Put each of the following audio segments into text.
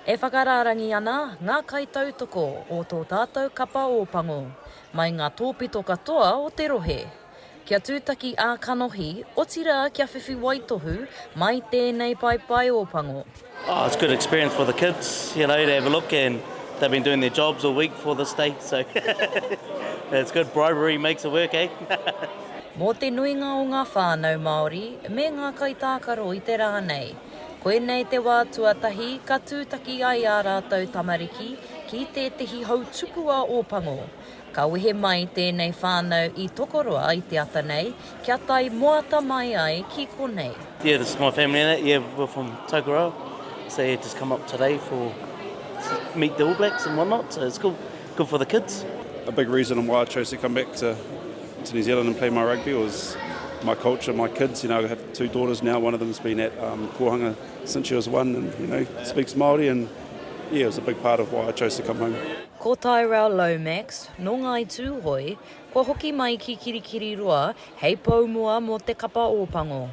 E whakarārangi ana ngā kaitautoko o tō tātou kapa Ōpango mai ngā tōpito katoa o te rohe, kia tūtaki ā-kanohi, otirā kia whiwhi waitohu mai tēnei paepae Ōpango. Oh it's good experience for the kids you know to have a look and they've been doing their jobs all week for this day so it's good bribery makes it work eh. Mō te nuinga o ngā whānau Māori me ngā kaitākaro i te rā nei. Koinei te wā tuatahi ka tūtaki ai ā rātou tamariki ki tētehi hau tupu a Ōpango. Ka wehe mai tēnei whānau i Tokoroa i te ata nei kia tae moata mai ai ki konei. Yeah this is my family and that yeah we're from Tokoroa so yeah just come up today for meet the All Blacks and what not so it's cool Good for the kids. A big reason on why I chose to come back to to New Zealand and play my rugby was my culture, my kids, you know, I have two daughters now, one of them's been at um, Kohanga since she was one and, you know, speaks Māori and yeah, it was a big part of why I chose to come home. Ko Tyrell Lomax, nō Ngāi Tūhoe, kua hoki mai ki Kirikiriroa hei pou mua mō te kapa Ōpango.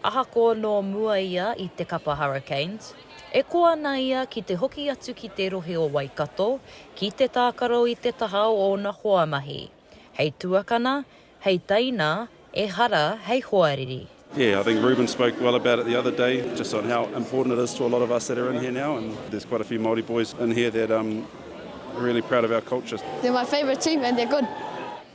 Ahakoa nō mua ia i te kapa Hurricanes, e koa ana ia ki te hoki atu ki te rohe o Waikato ki te tākaro i te taha o ōna hoa mahi, hei tuakana, hei teina, ehara hei hoariri. Yeah, I think Reuben spoke well about it the other day, just on how important it is to a lot of us that are in here now, and there's quite a few Māori boys in here that are really proud of our culture. They're my favourite team and they're good.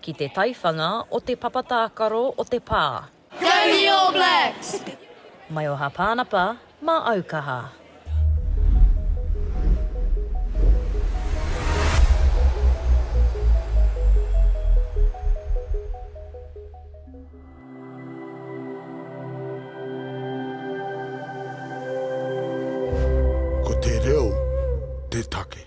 ki te taiwhanga o te papa tākaro o te pā. Go the All Blacks! Maioha Pānapa mā Aukaha. Ko te reo te take.